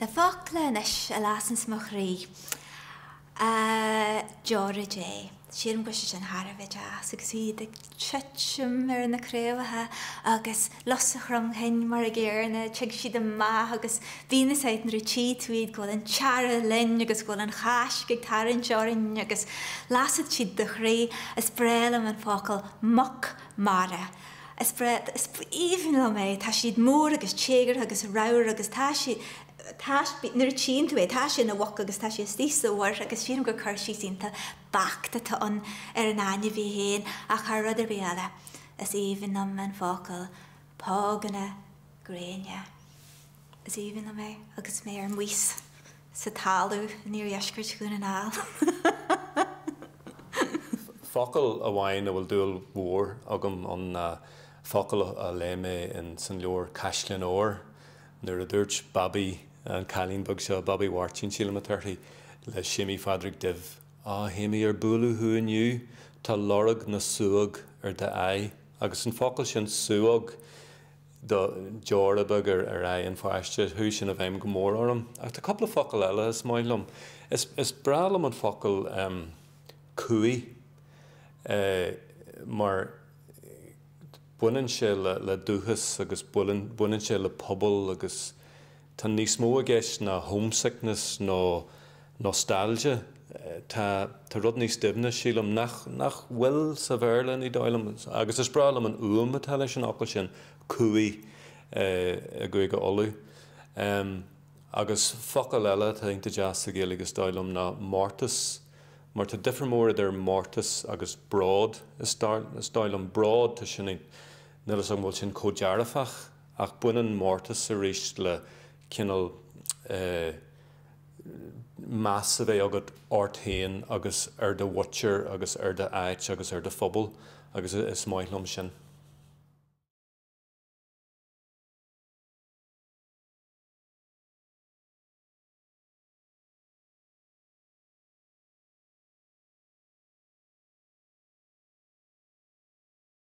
Na focla anois a lasas mo chroí, a deora Dé. Sílim go bhfuil sé sin thar a bheith deas agus iad ag titim ar na craobhacha agus lus an chromchinn mar a gcéarna, tig siad amach agus bíonn fhios agat nuair a tchí tú iad go bhfuil an t-earrach linn agus go bhfuil an Cháisc ag tarraingt orainn agus lasfadh siad do chroí. Is breá liom an focal muc mara. Is breá, is aoibhinn liom é. Tá siad mór agus téagartha agus ramhar agus tá sé, tá, nuair a tchíonn tú é, tá sé ina mhuc agus tá sé istigh sa mhuir agus sílim gur cur síos iontach beacht atá ann ar an ainmhí féin ach thar rud ar bith eile is aoibhinn liom an focal póganna gréine. Is aoibhinn liom é agus mé ar maos. sa talamh in iardheisceart Dhún na nGall. Focal amháin a bhfuil dúil mhór agam ann ná focal a léigh mé in san leabhar Caisleáin Óir, nuair a dúirt Babaí, an cailín beag seo, Babaí Mháirtín sílim atá uirthi, le Séimí Phádraig Duibh, A Shéimí, ar buaileadh thú inniu? Tá lorg na súóg ar d'aghaidh. Agus an focal sin súóg, do deora beaga ar aghaidh an pháiste, chuaigh sin i bhfeidhm go mór orm. Ach tá cúpla focal eile is maith liom. Is breá liom an focal cumhaidh mar baineann sé le dúchas agus baineann sé le pobal agus. Tá níos mó i gceist ná homesickness nó nostalgia. Tá rud níos doimhne, sílim, nach bhfuil sa Bhéarla, ní dóigh liom, agus is breá liom an fhuaim atá leis an fhocal sin, cumhaidh, i gCúige Uladh. Agus focal eile atá iontach deas sa Ghaeilge, is dóigh liom, ná mórtas, mar tá difear mór idir mórtas agus bród, is dóigh liom. Bród, tá sin, níl 'fhios agam an bhfuil sin chomh dearfach. Ach baineann mórtas arís le cineál eh meas a bheith agat ort féin agus ar do mhuintir agus ar do áit agus ar do phobal agus is maith liom sin.